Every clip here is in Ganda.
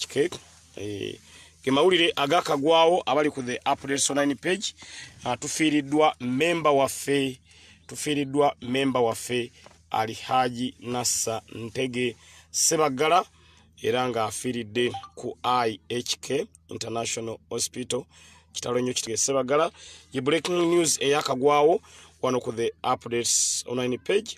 Okay. Eh, ge mawulire agakagwawo abali ku the updates online page uh, tufiiriddwa memba waffe tufiiriddwa memba waffe alihaji nassa ntege sebaggala era ng'afiiridde ku ihk international hospital kitalo nnyo kitege sebaggala ye breaking news eyakagwawo wano ku the updates online page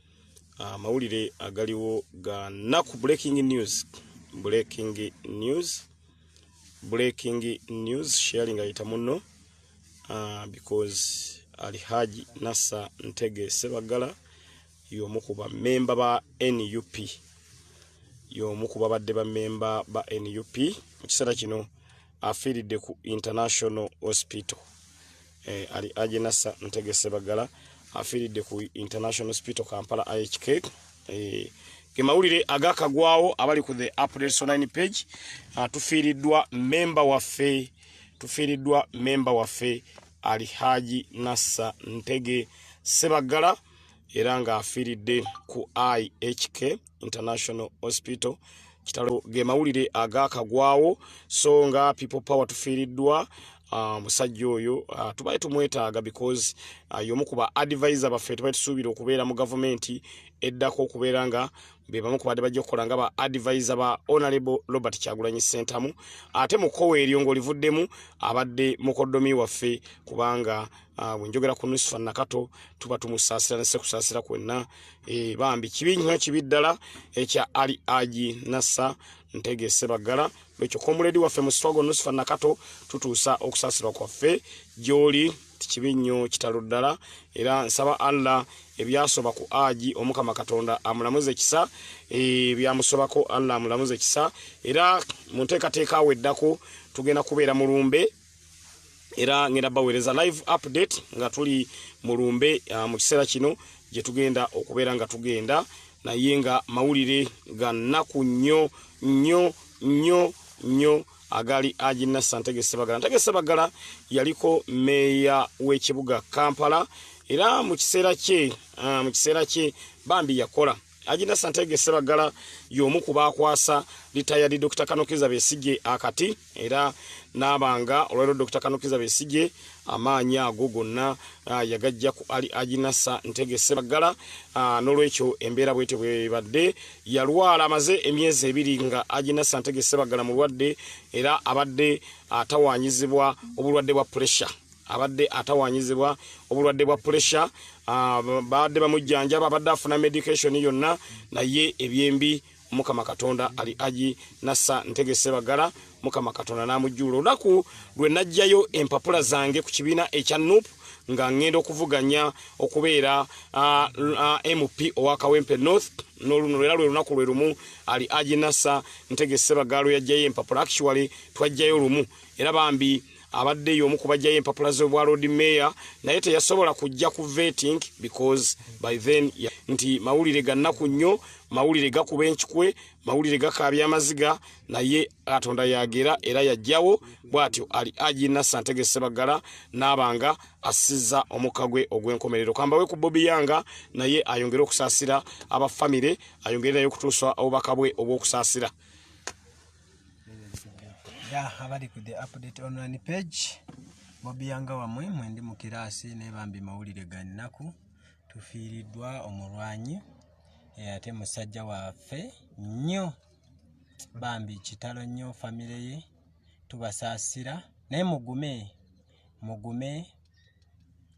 Ah, amawulire agaliwo ga naku breaking news breaking news breaking news sharing ayita muno uh, because alihaji nasa ntege sebagala yomu ku bamemba ba nup yomu ku babadde bamemba ba nup mu kiseera kino afiiridde ku international hospital eh, ali agenasa ntegese bagala afiiridde ku international hospital kampala ihk eh, gemawulire agakagwawo abali ku the updates online page uh, tufiiriddwa memba waffe tufiiriddwa memba waffe ali haji nassa ntege sebaggala era ng'afiiridde ku ihk international hospital kitalo ge mawulire agakagwawo so nga people power tufiiriddwa ah, omusajja uh, oyo uh, ah, tubaye tumwetaaga because uh, ah, yomu kuba advisor baffe tubaye tusuubira okubeera mu gavumenti eddako okubeera nga bebamu kubadde bajja okukola nga ba advisor ba honorable robert kyagulanyi sentamu ate mukowa eryo ngaolivuddemu abadde mukodomi waffe kubanga Ah, bwenjogera ku nusifa nakato tuba tumusaasira nese kusaasira kwenna eh, bambi kibi nnyo kibi ddala ekya eh, ali agi nasa ntegese baggala lwekyo komuledi waffe mu swago nusifa nakato tutuusa okusaasirwa kwaffe gyoli tikibi nnyo kitalo ddala era nsaba allah ebyasoba ku agi omukama katonda amulamuze kisa eh, byamusobako allah amulamuze kisa era mu nteekateeka aweddako tugenda kubeera mulumbe era ngenda baweereza live update nga tuli mu lumbe uh, mu kiseera kino gye tugenda okubeera nga tugenda naye nga mawulire ga nnaku nnyo nnyo nnyo nnyo agali agina santege sebagala ntege sebagala yaliko meeya w'ekibuga kampala era mu kiseera kye uh, mu kiseera kye bambi yakola Ajina Santege Sebagala y'omu ku baakwasa litayadi Dr. Kanokiza Besigye akati era n'abanga olwaliro Dr. Kanokiza Besigye amaanyi ago gonna ah, yagajja ku ali Ajinasa Ntege Sebagala ah, n'olwekyo embeera bwete bwebadde yalwala amaze emyezi ebiri nga Ajinasa Ntege Sebagala mulwadde era abadde atawaanyizibwa obulwadde bwa puresha. abadde atawanyizibwa obulwadde bwa pulesha ah, baadde bamujjanjaba abadde afuna medication yonna naye ebyembi mukama katonda ali aji nasa ntegese bagala mukama katonda n'amujjuula olunaku lwe najjayo empapula zange ku kibiina ekya nup nga ngenda okuvuganya okubeera ah, ah, mp owa kawempe north noluno era lwe lunaku lwe lumu ali aji nasa ntegese bagala lwe yajjayo empapula actually twajjayo lumu era bambi abadde y'omu ku bajjayo empapula z'obwa lord mayor naye teyasobola kujja ku vetting because by then ya, nti mawulire gannaku nnyo mawulire gakuba enkikwe mawulire gakaabya amaziga naye katonda yagera era yajjawo bw'atyo ali agi nasa ntegesebaggala n'abanga assizza omukka gwe ogw'enkomerero kambawe ku bobi yanga naye ayongere okusaasira abafamire ayongere naye okutuusa obubaka bwe obw'okusaasira ya abali ku the update online page bobiyanga wamwe mwendi mu kiraasi naye bambi mawulire ga nnaku tufiiriddwa omulwanyi eh, ate musajja waffe nnyo bambi kitalo nnyo famire ye tubasaasira naye mugume mugume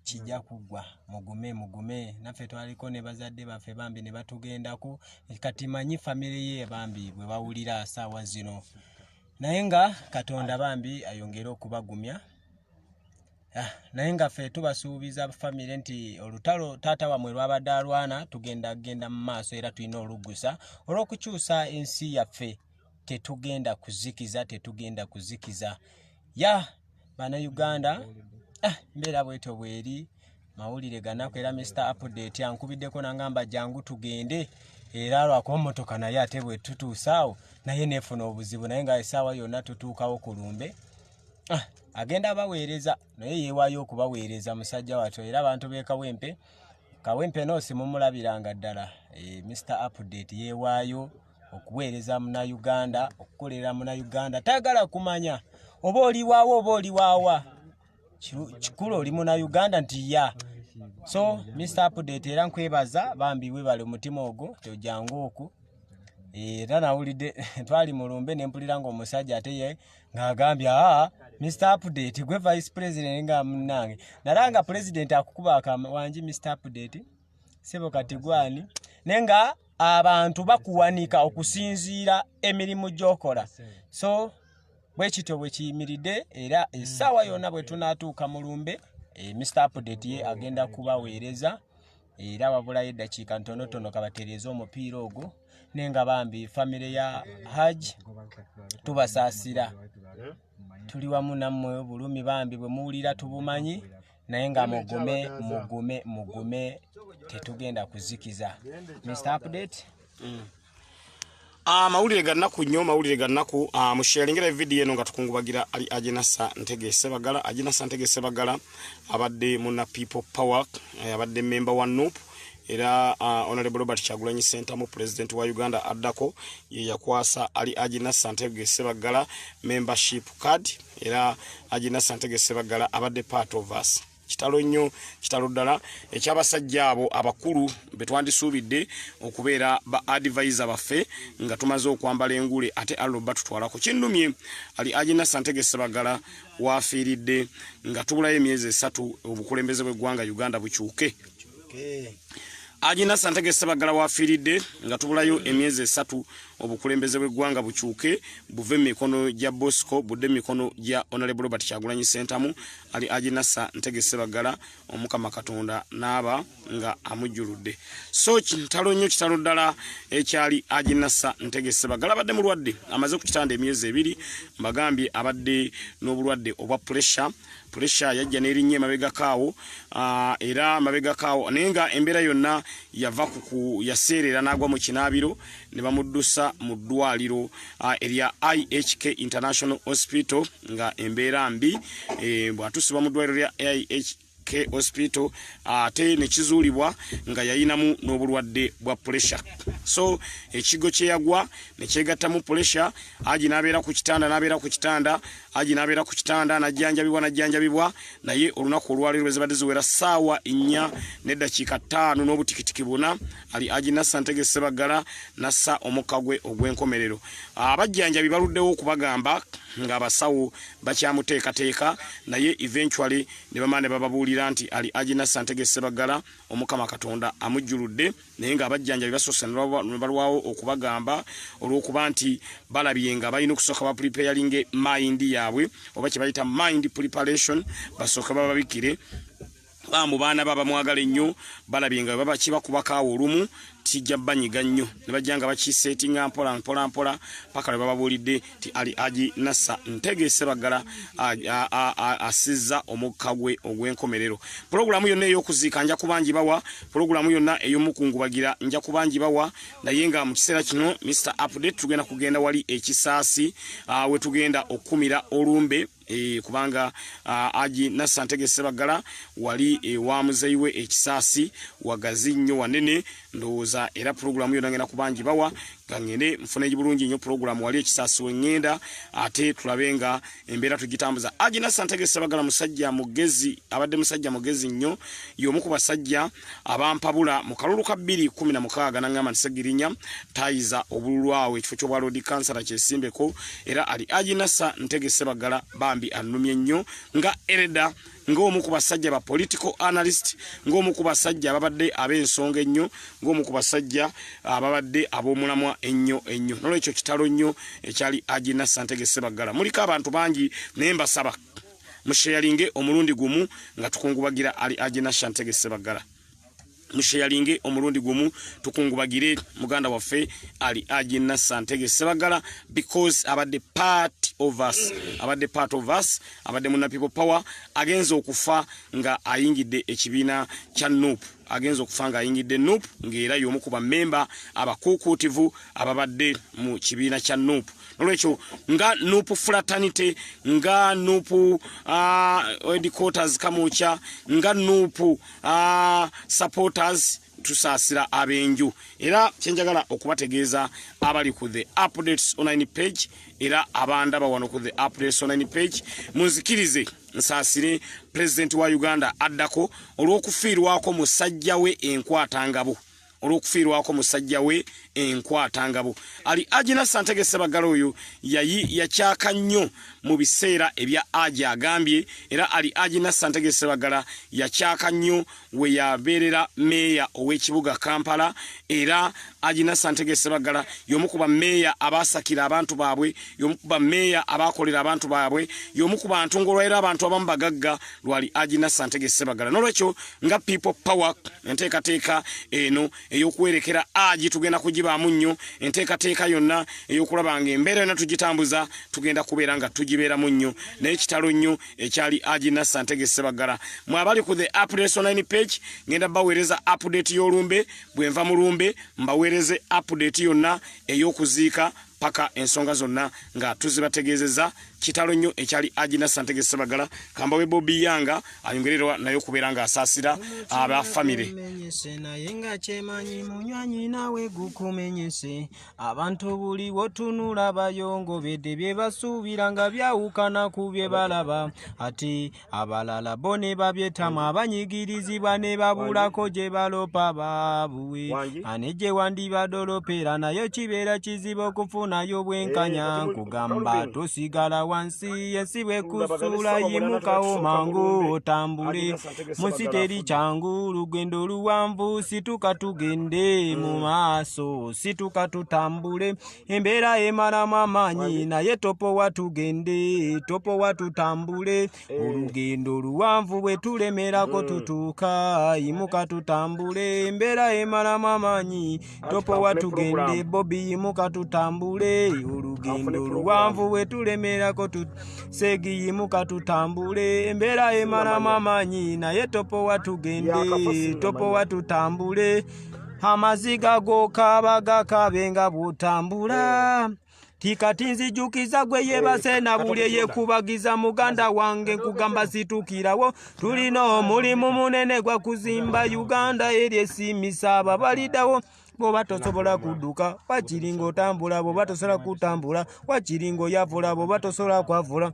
kijja hmm. kugwa mugume mugume naffe twaliko ne bazadde baffe bambi ne batugendako kati manyi famire ye bambi bwe bawulira saawa zino naye nga katonda bambi ayongere okubagumya ah, naye nga ffe tubasuubiza famire nti olutalo taata wamwe lwabadde alwana tugenda genda mu maaso era tulina oluggusa olw'okukyusa ensi yaffe tetugenda kuzikiza tetugenda kuzikiza ya bana uganda ah, mbeera bweto bweri mawulire ganaku era mr update ankubiddeko nangamba jangu tugende era lwakuba motoka naye ate bwetutuusaawo naye nefuna obuzibu naye nga esaawa yonna tutuukawo ku lumbe ah, agenda abaweereza naye yewayo okubaweereza musajja watyo era abantu bekawempe kawempe nosimumulabiranga ddala e, eh, mr update yewayo okuweereza munauganda okukolera munauganda tayagala kumanya oba oliwaawo oba oliwaawa kikulu oli munauganda nti ya so mr update era nkwebaza bambi webale omutima ogwo tojangu oku era nawulidde twali mulumbe nempulira nga omusajja ate ye ngaagambye aa mr update gwe vice president nga munange nalanga president akukuba akawanji mr update sebo kati gwani naye nga abantu bakuwanika okusinziira emirimu gyokola so bwekityo bwekiyimiridde era esaawa yona bwetunatuuka mu lumbe eh, mr update ye agenda kubaweereza era wabulayo eddakiika ntonotono kabatereeza omupiira ogwo naye nga bambi famire ya haj tubasaasira tuli wamu nammwe obulumi bambi bwe muwulira tubumanyi naye nga mugume mugume mugume tetugenda kuzikiza mr update mm. amawulire ah, gannaku nnyo mawulire gannaku ah, musheringera evidiyo eno nga tukungubagira ali ajenasa ntegese bagala ajenasa ntegese bagala abadde muna people power eh, abadde memba wa nup era ah, honorable robert kyagulanyi sentamu pulezidenti wa uganda addako ye yakwasa ali ajenasa ntegese bagala membership card era agina santege sebaggala abadde part of us kitalo nnyo kitalo ddala ekyabasajja abo abakulu betwandisuubidde okubeera ba advise baffe nga tumaze okwambala engule ate allo batutwalako kinnumye ali agina santege sebaggala wafiiridde nga tubulayo emyezi esatu obukulembeze bweggwanga uganda bukyuke okay. agina santege sebaggala wafiiridde nga tubulayo emyezi esatu obukulembeze bw'eggwanga bukyuke buve mu mikono gya bosco budde mu mikono gya onalebo robert kyagulanyi sentamu ali aginasa ntegese baggala omukama katonda n'aba nga amujjuludde so kitalo nnyo kitalo ddala ekyali aginasa ntegese baggala abadde mulwadde amaze ku kitanda emyezi ebiri mbagambye abadde n'obulwadde obwa puresure puresha yajja nerinnya emabegako awo ah, era mabegako awo naye nga embeera yonna yava ku yaseerera n'agwa mu kinaabiro ne bamuddusa mu ddwaliro ah, erya ihk international hospital nga embeera mbi eh, bw'atuusibwa mu ddwaliro lya ihk K hospital ate nekizuulibwa nga yayinamu n'obulwadde bwa pressure so ekigo kyeyagwa nekyegattamu pressure aji nabeera ku kitanda nabeera ku kitanda aji nabeera ku kitanda najjanjabibwa najjanjabibwa naye olunaku olwaleero ezibadde ziwera ssaawa nnya neddakiika ttaano n'obutikitiki buna ali aji nassa ntege sebaggala nassa omukka gwe ogw'enkomerero abajjanjabi baluddewo okubagamba ng'abasawo bakyamuteekateeka naye eventually ne bamala ne bababuulira nti ali aji nassa ntege sebaggala omukama katonda amujjuludde naye ng'abajjanjabi basoose ne balwawo okubagamba olw'okuba nti balabye nga balina okusooka bapulipeyalinge mayindi yaabwe oba kye bayita mind preparation basooke bababikire bambu baana baba mwagala ennyo balabye nga baba kibakubakaawo olumu kijja banyiga nnyo ne bajja nga bakiseetinga mpola mpola mpola paka lwe bababuulidde nti ali agi nasa ntegeese baggala asizza omukka gwe ogw'enkomerero pulogulaamu yonna ey'okuziika nja kubangi bawa pulogulaamu yonna ey'omukungubagira nja kubangi bawa naye nga mu kiseera kino mr update tugenda kugenda wali ekisaasi we tugenda okukumira olumbe e, kubanga aji nasa ntege sebaggala wali ewa muzeyi we ekisaasi wagazi nnyo wanene ndowooza era pulogulaamu yona ngenda kubangi bawa gangende nfune bulungi nnyo pulogulaamu wali ekisaasi wengenda ate tulabe nga embeera tugitambuza aji nasa ntege sebaggala musajja mugezi abadde musajja mugezi nnyo yomu ku basajja abampabula mu kalulu ka 216 nangamba nti segirinya tayiza obululu awo ekifo ky'obwa loodi kansala kyesimbeko era ali ajinasa ntegese bagala bambi annumye nnyo nga ereda ng'omu ku basajja ba political analyst ng'omu ku basajja ababadde ab'ensonga ennyo ng'omu ku basajja ababadde ab'omulamwa ennyo ennyo nolwekyo kitalo nnyo ekyali ajinasa ntegese bagala muliko abantu bangi naye mbasaba musheyalinge omulundi gumu nga tukungubagira ali ajena shantege sebaggala musheyalinge omulundi gumu tukungubagire muganda waffe ali ajena santege sebaggala because abadde part of us abadde part of us abadde muna people power agenza okufa nga ayingidde ekibiina kya nup agenza okufa nga ayingidde nup ngaera yomu ku bamemba abakuukuutivu ababadde mu kibiina kya nup nolwekyo nga nupu fraternity nga nupu uh, headquarters kamokya nga nupu uh, supporters tusaasira ab'enju era kyenjagala okubategeeza abali ku the updates online page era abandaba wano ku the updates online page munzikirize nsaasire pulezidenti wa uganda addako olw'okufiirwako musajja we enkwatangabo olw'okufiirwako musajja we enkwatangabo ali agina santege sebaggala oyo yayi yakyaka nnyo mu biseera ebya aji agambye era ali agina santege sebaggala yakyaka nnyo we yabeerera meeya ow'ekibuga kampala era agina santege sebaggala y'omu ku bameeya abaasakira abantu baabwe y'omu ku bameeya abaakolera abantu baabwe y'omu ku bantu ng'olwaera abantu abamu bagagga lwali agina santege sebagala nolwekyo nga people power enteekateeka eno eyokuwerekera agi tugenda kugibaamu nnyo enteekateeka yonna eyokulaba nga embeera yonna tugitambuza tugenda kubeera nga tugibeeramu nnyo naye kitalo nnyo ekyali agina santege sebagala mwabali ku the apdesonline page ngenda baweereza update y'olumbe bwenva mu lumbe mbaweereze update yonna eyokuziika paka ensonga zonna nga tuzibategeezezza kitalo nnyo ekyali agina santege sebagala kamba we bobi yanga ayongererwa naye okubeera ng'asaasira aba famire naye nga kyemanyi munywanyi nawe gukumenyese abantu buli wotunula bayongobedde bye basuubira nga byawukana ku bye balaba ati abalala bo ne babyetamu abanyigirizibwa ne babulako gye balopa baabuwe ane gye wandibadde olopera nayo kibeera kizibu okufunayo obwenkanya eh, nkugamba tosigala wansi yensi bwekusuula yimukawo mangu otambule munsi teri kyangu lugendo luwanvu situka tugende mu mm. maaso situka tutambule embeera emalamu amaanyi naye topowa tugende topowa tutambule eh. olugendo oluwanvu bwe tulemerako hmm. tutuuka yimuka tutambule embeera emalamu amaanyi topowa tugende bobi yimuka tutambule olugendo oluwanvu bwe tulemerako seegi yimuka tutambule embeera emalamu amaanyi naye topowa tugende topowa tutambule amaziga gokaba gakabe nga butambula tikati nzijukiza gwe yebase na bulye yekubagiza muganda wange nkugamba situkirawo tulina omulimu munene gwa kuzimba uganda eri esimisa ababalidawo bwoba tosobola kudduka wakiri ngaotambula bwoba tosobola kutambula wakiri ngaoyavula bwoba tosobola kwavula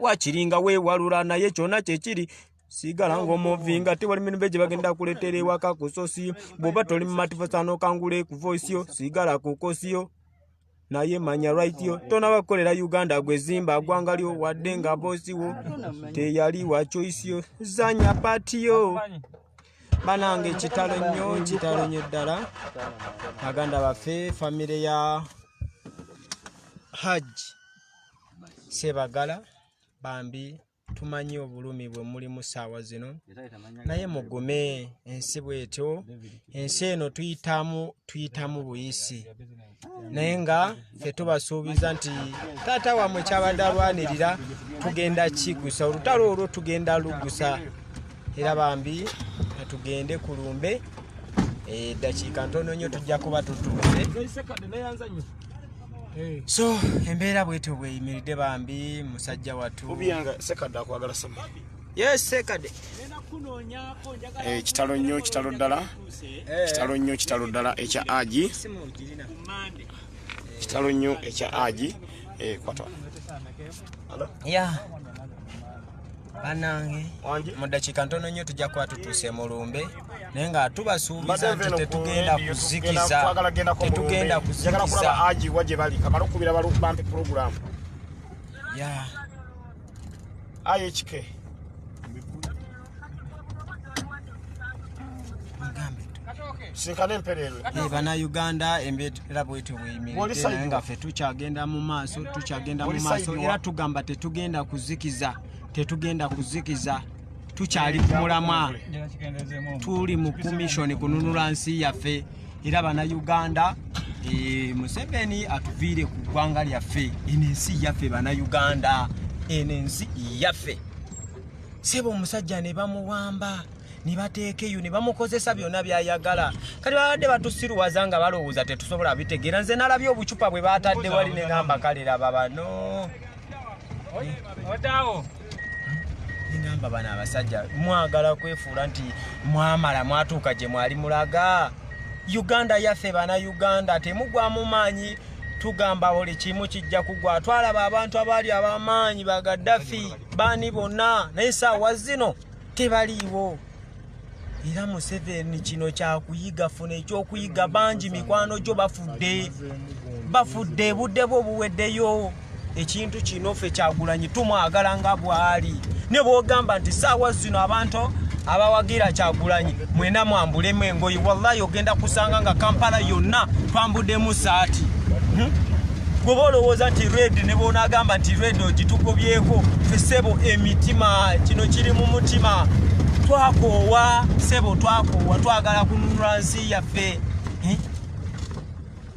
wakiri nga weewalula naye kyona kyekiri sigala ng'omuvinga tewali mirembe gye bagenda kuleetera ewaka ku sosi bw'oba toli mu matifo saanokangule ku voisiyo sigala ku kosiyo naye manya rightyo tonaba kukolera uganda gwezimba agwangalyo wadde nga bosiwo teyali wa choisiyo zanya patiyo banange kitalo nnyo kitalo nnyo ddala baganda baffe famire ya hajj sebagala bambi tumanyi obulumi bwe muli mu ssaawa zino naye mugume ensi bwetyo ensi eno tuyitamu tuyitamu buyisi naye nga fe tubasuubiza nti taata wamwe kyabadde alwanirira tugenda kigusa olutalo olwo tugenda lugusa era bambi tugende ku lumbe eddakiika eh, ntono nnyo tujja kuba tutuuse so embeera bwetyo bweyimiridde bambi musajja watu yesekade eh, kitalo nnyo kitalo ddala eh. kitalo nnyo kitalo ddala ekya agi kitalo nnyo ekya agi eh, kwata ya banange mu ddakiika ntono nnyo tujja kuba tutuuse mu lumbe naye nga tubasuubiza nti tetugenda kuzikiza tetugenda kuzikiza agiwa gye bali kamala okubira balubampe pulogulaamu ya ayekike sinkana empereerwe eh, banauganda embeera bwetyo bweyimiridde nga ffe tukyagenda mu maaso tukyagenda mu maaso era tugamba tetugenda kuzikiza tetugenda kuzikiza tukyali ku mulamwa tuli mu komishoni kununula nsi yaffe era banauganda eh, museveni atuviire ku ggwanga lyaffe eno ensi yaffe banauganda eno ensi yaffe sebo omusajja ne bamuwamba ne bateekeyo ne bamukozesa byonna byayagala kati babadde batusiruwaza nga balowooza tetusobola bitegeera nze nalabye obucupa bwe batadde wali ne ngamba kale laba bano odawo ngamba bano abasajja mwagala kwefuula nti mwamala mwatuuka gye mwali mulaga uganda yaffe bana uganda temugwamu maanyi tugamba buli kimu kijja kugwa twalaba abantu abaali abamaanyi ba gaddafi baani bonna naye saawa zino tebaliiwo era museveni kino kyakuyiga funa ekyokuyiga bangi mikwano gyo bafudde bafudde budde bwo buweddeyo ekintu kino fe kyagulanyi tumwagala nga bwali ne bwogamba nti saawa zino abantu abawagira kyagulanyi mwena mwambulemu engoyi wallahi ogenda kusanga nga kampala yonna twambudemu saati hmm? goba olowooza nti red ne bwonagamba nti red ogitugobyeko fe sebo emitima kino kiri mu mutima twakoowa sebo twakoowa twagala kununula nsi yaffe hmm?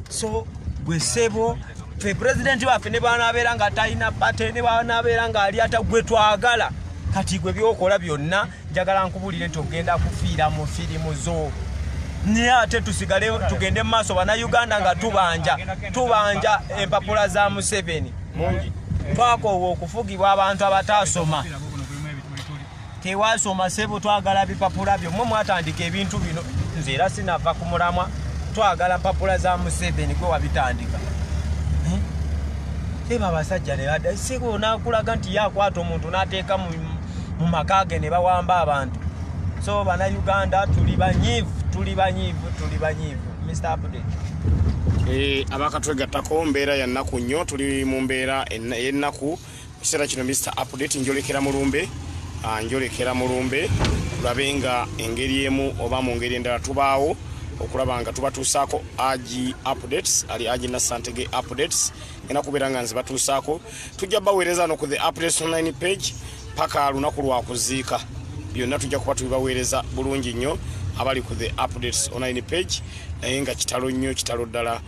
so gwe sebo fe president wafe ne bana abera nga taina pate ne bana abera nga ali ata gwe twagala kati gwe byokola byonna njagala nkubulire nti ogenda kufiira mu firimu zo naye ate tusigale tugende mu maaso banauganda nga tubanja tubanja empapula za museveni twakoowa okufugibwa abantu abataasoma tewasoma sebo twagala bipapula byo mwe mwatandika ebintu bino nze era sinava ku mulamwa twagala mpapula za museveni gwe wabitandika eh? eba abasajja neyada sebo onakulaga nti yakwata omuntu nateeka mu maka ge ne bawamba abantu so bana uganda tuli banyivu tuli banyivu tuli banyivu mr update eh, abakatwegattako mbeera ya nnaku nnyo tuli mu mbeera y'ennaku mu kiseera kino Mister Update njolekera mu lumbe ah, njolekera mu lumbe tulabe nga engeri emu oba mu ngeri endala tubaawo okulaba nga tubatuusaako agi updates ali agi nasantege updates ena kubeera nga nzibatuusaako tujja baweereza no ku the updates online page paka lunaku lwakuziika byonna tujja kuba tubibaweereza bulungi nnyo abali ku the updates online page naye nga kitalo nnyo kitalo ddala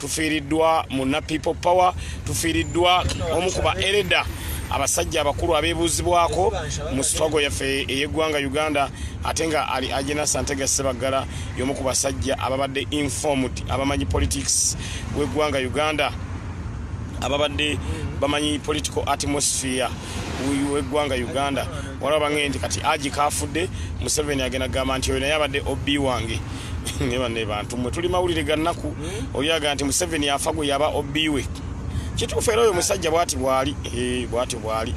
tufiiriddwa munna people power tufiiriddwa omu ku ba ereda abasajja abakulu abebuuzibwako mu sitwago yaffe ey'eggwanga uganda ate nga ali agena santega sebaggala y'omu ku basajja ababadde informed abamanyi politics w'eggwanga uganda ababadde bamanyi political atmosphere w'eggwanga uganda waliwo bange nti kati agi kaafudde museveni agenda kugamba nti oyo naye abadde ob wange ne banne bantu mwe tuli mawulire ga nnaku hmm? oli aga nti museveni afa gwe yaba obiwe kituufu era oyo musajja bwati bwali eh, bwati bwali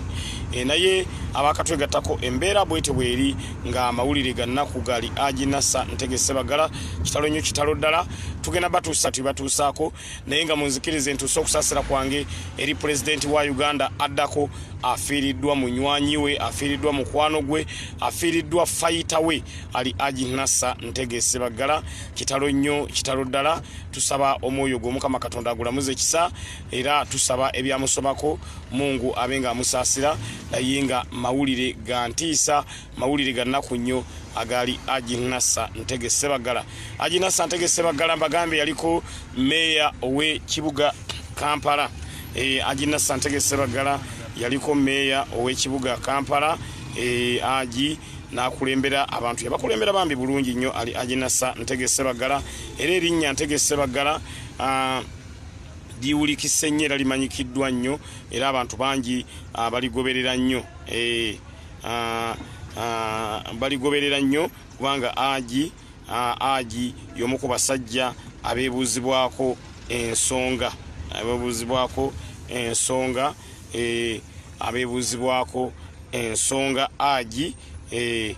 eh, naye abakatwegattako embeera bwete bweri nga amawulire ga nnaku gali aginasa ntegese bagala kitalo nnyo kitalo ddala tugenda batuusa tibatuusaako naye nga munzikirize ntuuse okusasira kwange eri pulezidenti wa uganda addako afiiriddwa munywanyi we afiiriddwa mukwano gwe afiiriddwa fayita we ali aji nasa ntegese baggala kitalo nnyo kitalo ddala tusaba omwoyo gwe omukama katonda agulamuze kisa era tusaba ebyamusobako mungu abe nga amusaasira naye nga mawulire ga ntiisa mawulire ga nnaku nnyo agaali ajinasa ntege sebagala ajinasa ntege sebagala mbagambe yaliko meeya ow'ekibuga kampala e, ajinasa ntege sebagala yaliko meeya ow'ekibuga kampala e, aji nakulembera abantu yabakulembera bambi bulungi nnyo ali ajinasa ntege sebagala era erinnya ntege sebagala uh, liwulikise nnyo era limanyikiddwa nnyo era abantu bangi uh, baligoberera nnyo e, baligoberera nnyo kubanga agi agi y'omu ku basajja abeebuuzibwako ensonga abeebuuzibwako ensonga e, abeebuuzibwako ensonga agi e,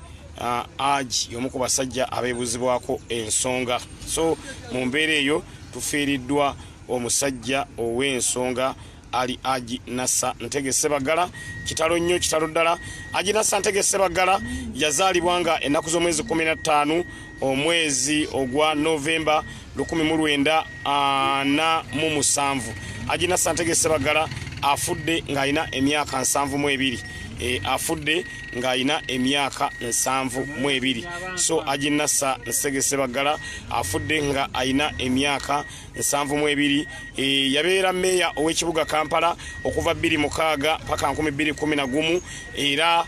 agi y'omu ku basajja abeebuuzibwako ensonga so mu mbeera eyo tufiiriddwa omusajja ow'ensonga ali aji nasa ntege sebagala kitalo nnyo kitalo ddala aji nasa ntege sebagala yazaalibwa nga ennaku z'omwezi 15 omwezi ogwa novemba 1947 aji nasa ntege sebagala afudde ng'alina emyaka 72 e, afudde ng'alina emyaka 72 so aji nasa nsege sebagala afudde nga alina emyaka nsanvu mu ebiri e, yabeera meeya ow'ekibuga kampala okuva bbiri mukaaga paka nkumi bbiri kumi na gumu era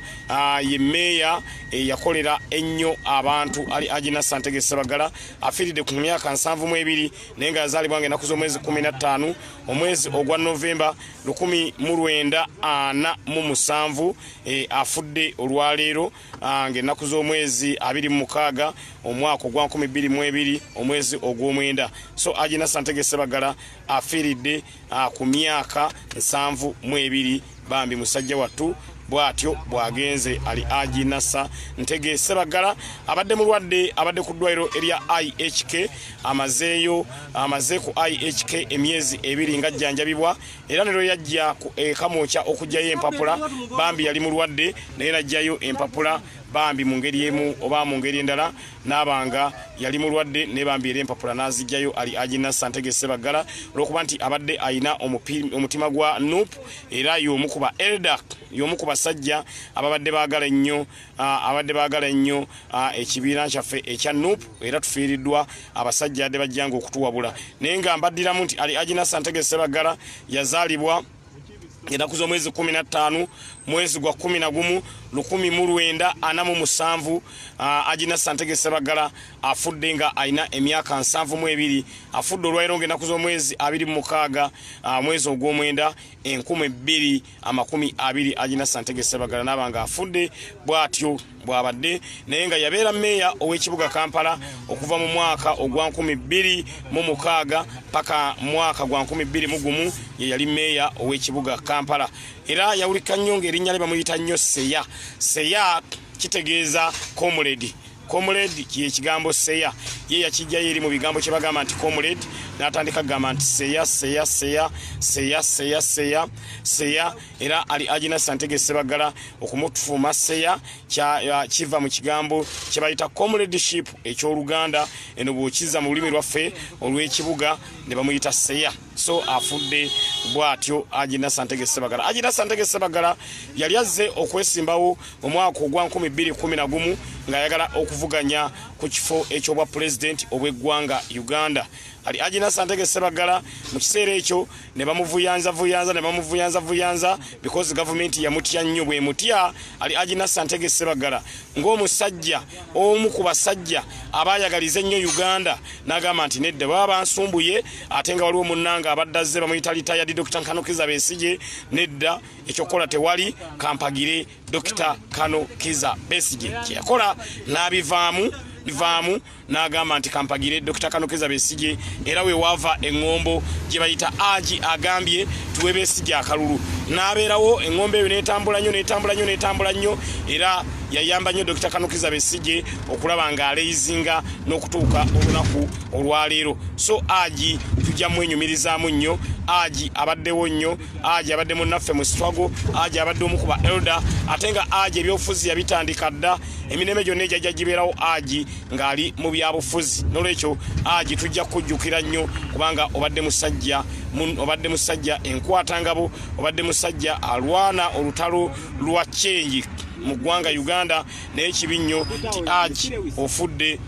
ye meeya eyakolera ennyo abantu ali agina santege sebagala afiiridde ku myaka nsanvu mu ebiri naye nga yazaalibwa nga enaku z'omwezi kumi na ttaano omwezi ogwa novemba lukumi mu lwenda ana mu musanvu e, afudde olwaleero Ah, ng'ennaku z'omwezi abiri mu mukaaga omwaka ogwa nkumi bbiri mu ebiri omwezi ogw'omwenda so agina santege sebagala afiiridde ah, ku myaka nsanvu mu ebiri bambi musajja wattu bwatyo bwagenze ali agi nasa ntege sebagala abadde mulwadde abadde ku ddwaliro erya ihk amazeeyo amaze ku ihk emyezi ebiri ng'ajjanjabibwa era ne lwe yajja e kamwokya okugyayo empapula bambi yali mulwadde naye najjayo empapula bambi mu ngeri emu oba mu ngeri endala n'abanga yali mulwadde ne bambi era empapula n'azijjayo ali agina santege sebaggala olwokuba nti abadde alina omutima gwa nup era y'omu ku ba eldak y'omu ku basajja ababadde baagala ennyo abadde baagala ennyo ekibiina kyaffe ekya nup era tufiiriddwa abasajja adde bajjanga okutuwabula naye nga mbaddiramu nti ali agina santege sebaggala yazaalibwa enaku z'omwezi kumi na ttaano mwezi gwa kumi na gumu lukumi mu lwenda ana mu musanvu agina santege sebaggala afudde nga alina emyaka nsanvu mu ebiri afudde olwairo nga enaku z'omwezi abiri mu mukaaga mwezi ogw'omwenda enkumu ebbiri amakumi abiri agina santege sebagala naba nga afudde bwatyo bwabadde naye nga yabeera meeya ow'ekibuga kampala okuva mu mwaka ogwa nkumi bbiri mu mukaaga paka mwaka gwa nkumi bbiri mu gumu ye yali meeya ow'ekibuga kampala era yawulika nnyo ng'erinnya lye bamuyita nnyo seya seya kitegeeza comrade comrade kye kigambo seya ye yakijja yeri mu bigambo kye bagamba nti comrade natandika gamba nti seya seya seya seya seya seya seya era ali ajina santege sebagala okumutufuma seya kya kiva mu kigambo kye bayita comrade ship eky'oluganda eno bwokiza mu lulimi lwaffe olw'ekibuga ne bamuyita seya so afudde bwatyo aji nasantege sebagala aji nasantege sebagala yali azze okwesimbawo mu mwaka ogwa 211 ng'ayagala okuvuganya ku kifo ekyobwa pulezidenti obw'eggwanga uganda ali aji nasantege sebagala mu kiseera ekyo ne bamuvuyanza vuyanza ne bamuvuyanza vuyanza because gavumenti yamutya nnyo bwemutya ali aji nasantege sebagala ng'omusajja omu ku basajja abaayagaliza ennyo uganda n'agamba nti nedda baba bansumbuye ate nga waliwo munnanga abadde azze bamuyita litayadi dokita nkano kiza besigye nedda ekyokukola tewali kampagire dokita kano kiza besigye kyeyakola n'abivaamu bivaamu n'agamba nti kampagire Dokita Kanokeza Besigye era we waava eŋŋombo gye bayita agi agambye tuwe Besigye akalulu n'abeerawo eŋŋombo eyo n'etambula nnyo n'etambula nnyo n'etambula nnyo era yayamba nnyo Dokita Kanokeza Besigye okulaba ng'aleyizinga n'okutuuka olunaku olwaleero so agi tujja mwenyumirizaamu nnyo agi abaddewo nnyo agi abadde munnaffe mu sitwago agi abadde omu ku ba elda ate nga agi ebyobufuzi yabitandika dda emirembe gyonna egyajja gibeerawo agi ng'ali mu byabufuzi n'olwekyo agi tujja kukujjukira nnyo kubanga obadde musajja obadde musajja enkwatangabo obadde musajja alwana olutalo lwa kyengi mu ggwanga uganda naye kibi nnyo ti agi ofudde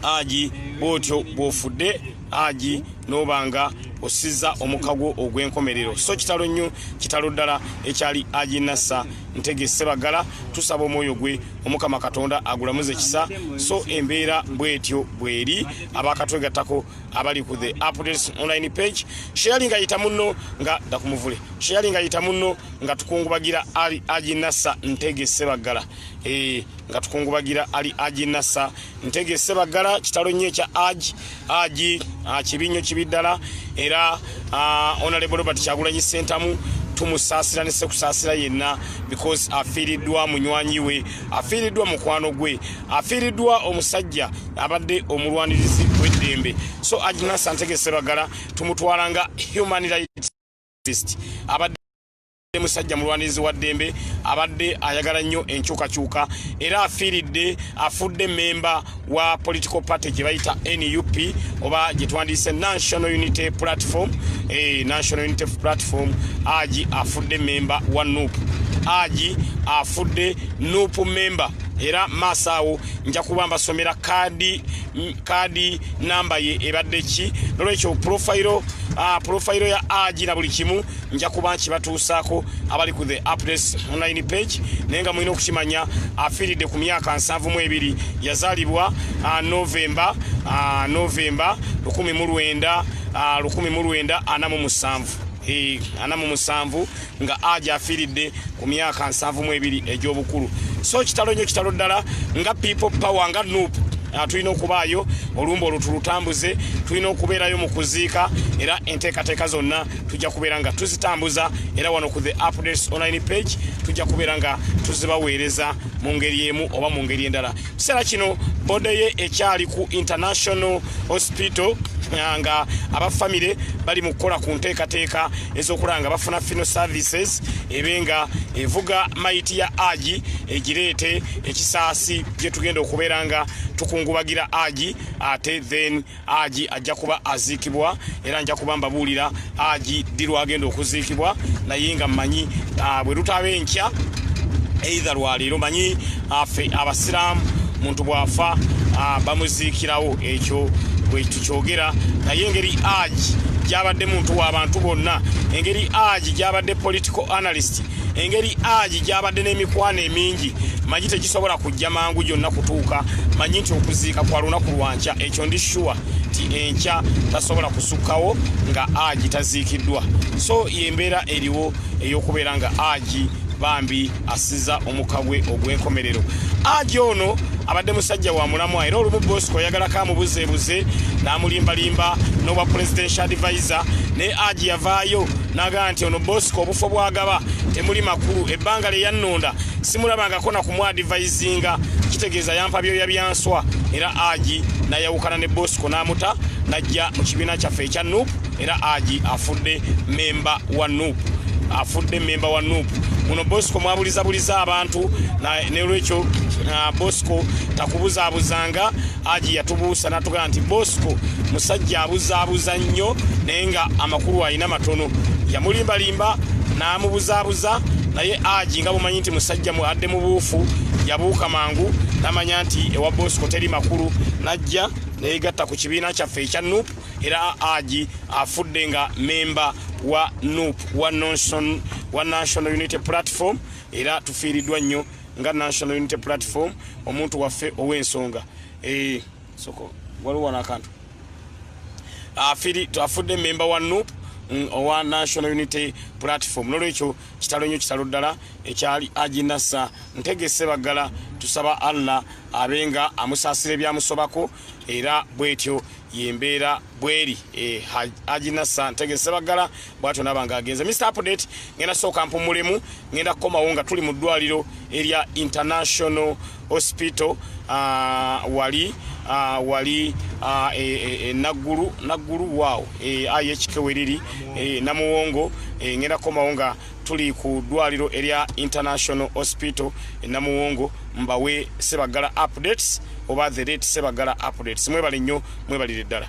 agi bwotyo bwofudde agi n'oba nga osiza omuka gwo ogw'enkomerero so kitalo nnyo kitalo ddala ekyali agi nassa ntege sebagala tusaba omwoyo gwe omukama katonda agulamuze kisa so embeera bwetyo bweri abakatwegattako abali ku the updates online page sheyali nga yita munno nga dakumuvule sheyali nga yita munno nga tukungubagira ali agi nassa ntege sebagala e, eh, nga tukungubagira ali aji nasa ntege sebaggala kitalo nnyo ekya aji aji ah, kibi nnyo kibi ddala era ah, onalebo robert kyagulanyi sentamu tumusaasira ne sekusaasira yenna because afiiriddwa munywanyi we afiiriddwa mukwano gwe afiiriddwa omusajja abadde omulwanirizi w'eddembe so aji nasa ntege sebagala tumutwala nga human rights abadde Yabadde musajja mulwanirizi wa ddembe abadde ayagala nnyo enkyukakyuka era afiiridde afudde mmemba wa political party gye bayita nup oba gye twandiyise national unity platform eh, national unity platform agi afudde mmemba wa nup agi afudde nup mmemba era maaso awo nja kuba mbasomera kaadi kaadi namba ye ebadde ki nolwekyo pulofayiro ah, pulofayiro ya agi na buli kimu nja kuba nkibatuusaako abali ku the updates online page naye nga mulina okukimanya afiiridde ku myaka nsanvu mu ebiri yazaalibwa ah, novemba ah, novemba lukumi mu lwenda ah, lukumi mu lwenda ana mu musanvu eh, ana mu musanvu nga aja afiiridde ku myaka nsanvu mu ebiri egy'obukulu so kitalo nnyo kitalo ddala nga people power nga nuupu Ah, tulina okubaayo olumba olwo tulutambuze tulina okubeerayo mu kuziika era enteekateeka zonna tujja kubeera nga tuzitambuza era wano ku the updates online page tujja kubeera nga tuzibaweereza mu ngeri emu oba mu ngeri endala kiseera kino bode ye ekyali ku international hospital eh, nga abafamire bali mu kukola ku nteekateeka ez'okulaba nga bafuna fino services ebe nga evuga mayiti ya agi egireete ekisaasi gye tugenda okubeera nga tukungubagira agi ate then aji ajja kuba aziikibwa era nja kuba mbabuulira aji ddi lwagenda okuziikibwa naye nga mmanyi ah, bwe lutaaba enkya eitha lwaleero manyi afe ah, abasiraamu muntu bw'afa ah, bamuziikirawo ekyo bwe tukyogera naye engeri aji gyabadde muntu w'abantu bonna engeri aji gyabadde political analyst engeri aji gyabadde n'emikwano emingi manyi tegisobola jja mangu gyonna kutuuka manyi nti okuziika kwa lunaku lwankya ekyo ndi shuwa nti enkya tasobola kusukkawo nga agi taziikiddwa so yembeera eriwo ey'okubeera nga agi bambi asiza omukka gwe ogw'enkomerero agi ono abadde musajja wa mulamwa era olumu bosco oyagalako amubuzeebuze n'amulimbalimba n'obwa presidential advisor naye agi yavaayo n'agaa nti ono bosco obufo bwagaba temuli makulu ebbanga lye yannonda simulabangako na kumwadivayizinga kitegeeza yampa byoya byanswa era agi nayawukana ne bosco n'amuta najja mu kibiina kyaffe ekya nup era agi afudde memba wa nup afudde memba wa nup muno bosco mwabulizabuliza abantu nolwekyo bosco takubuzabuzanga Aji yatubuusa natugaa nti Bosco musajja abuzaabuza nnyo naye nga amakulu alina matono. Yamulimbalimba n'amubuzaabuza naye Aji nga bumanyi nti musajja mu adde mu buufu yabuuka mangu namanya nti ewa Bosco teri makulu n'ajja neyegatta ku kibiina kyaffe ekya nup era agi afudde nga memba wa nup wa national unity platform era tufiiriddwa nnyo nga national unity platform omuntu waffe ow'ensonga eh, soko waliwo wano akantu afiri twafudde memba wa nup mm, owa national unity platform nolwekyo kitalo nyo kitalo ddala ekyali ajinasa ntegese baggala tusaba allah abe nga amusaasira ebyamusobako era bwetyo yembeera bweri eh, ajinasa ntegeze sebagala bwatyo naba nga agenze mr update ngenda sooka mpumulemu ngenda kukomawo nga tuli mu ddwaliro erya international hospital uh, wali uh, wali uh, e, e, e, naggulu naggulu waawo e, ayekikeweriri e, namuwongo e, ngenda kukomawo nga tuli ku ddwaliro erya international hospital enamuwongo mbawe sebagala updates oba the rate sebagala updates mwebale nnyo mwebalire ddala